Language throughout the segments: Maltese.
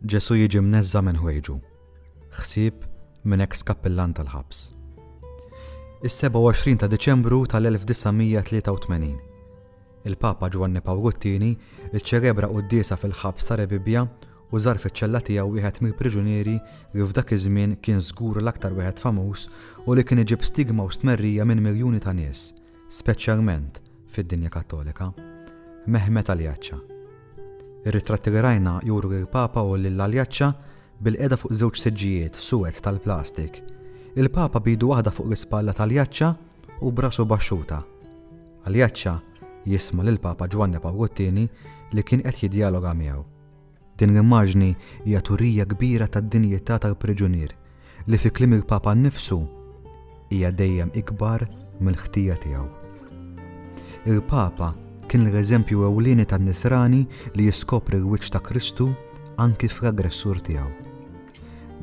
Ġesù jiġi mneżża' minn ħwejġu. Ħsieb minn eks kappillan tal-ħabs. Is-27 ta' Diċembru tal-1983. Il-Papa Ġwanni Pawlu t-Tieni ċċelebra quddiesa fil-ħabs ta' Rebibbia u żar fiċ-ċella tiegħu wieħed mill-priġunieri li f'dak iż-żmien kien żgur l-aktar wieħed famuż u li kien iġib stigma u stmerrija minn miljuni ta' nies, speċjalment fid-dinja Kattolika, Mehmet Aljaċċa. Ir-ritratti li rajna juru lill-Papa u lil Aljaċċa bilqiegħda fuq żewġ siġġijiet suwed tal-plastik, il-Papa b'idu waħda fuq l-ispalla ta' Aljaċċa u b'rasu baxxuta. Aljaċċa jisma' lill-Papa Ġwanni Pawlu t-Tieni li kien qed jiddjaloga miegħu. Din l-immaġni hija turija kbira tad-dinjità tal-priġunier li fi kliem il-Papa nnifsu hija dejjem ikbar mill-ħtija tiegħu. Il-Papa kien l-eżempju ewlieni tan-nisrani li jiskopri l-wiċċ ta' Kristu anki fl-aggressur tiegħu.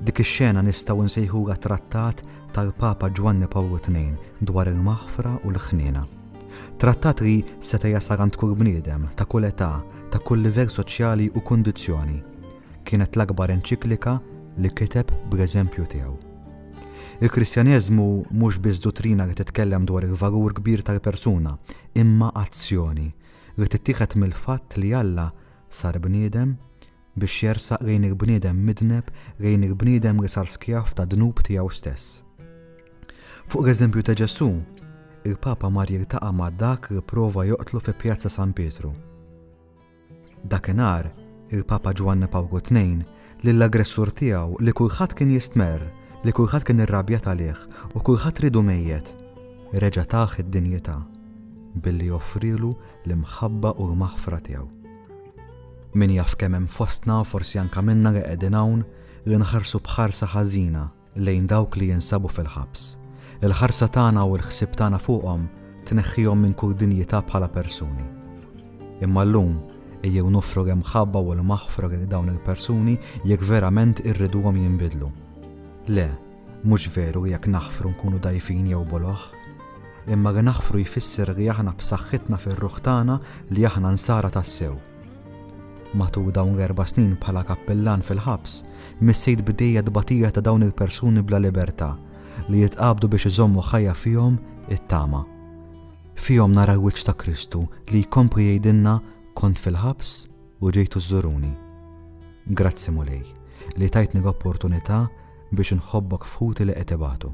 Dik ix-xena nistgħu nsejħulha trattat tal-Papa Ġwanni Pawlu Tnejn dwar il-maħfra u l-ħniena. Trattat li seta' jasal għand kull bniedem, ta' kull età, ta' kull livell soċjali u kundizzjoni. Kienet l-akbar enċiklika li kiteb bl-eżempju tiegħu. Il-Kristjaneżmu mhux biss duttrina li titkellem dwar il-valur kbir tal-persuna, imma azzjoni li tittieħed mill-fatt li Alla sar bniedem biex jersaq lejn il-bniedem midneb, lejn il-bniedem li sar skjav tad-dnub tiegħu stess. Fuq l-eżempju ta' Ġesù, il-Papa mar jiltaqa' ma' dak li prova joqtlu fi Pjazza San Pietru. Dakinhar, il-Papa Ġwanni Pawlu II lill-aggressur tiegħu li kulħadd kien jistmerr, li kulħadd kien irrabjat għalih u kulħadd ridu mejjet, reġa' tah id-dinjità billi offrielu l-imħabba u l-maħfra tiegħu. Min jaf kemm hemm fostna, forsi anke minna li qegħdin hawn, li nħarsu b'ħarsa ħażina lejn dawk li jinsabu fil-ħabs. Il-ħarsa tagħna u l-ħsieb tagħna fuqhom tneħħihom minn kull dinjità bħala persuni. Imma llum ejjew nofru l-imħabba u l-maħfra lil dawn il-persuni jekk verament irriduhom jinbidlu. Le, Mhux veru jekk naħfru nkunu dgħajfin jew boloh, imma li naħfru jfisser li aħna b'saħħitna fir-ruħ tagħna li aħna nsara tassew. Matul dawn l-erba' snin bħala kappillan fil-ħabs, missejt bdejja tbatija ta' dawn il-persuni bla libertà li jitqabdu biex iżommu ħajja fihom it-tama. Fihom nara l-wiċċ ta' Kristu li jkompli jgħidilna kont fil-ħabs u ġejtu żuruni. Grazzi mulej li tajtni l-opportunità Biex inħobbok f'ħuti li qed ibatu.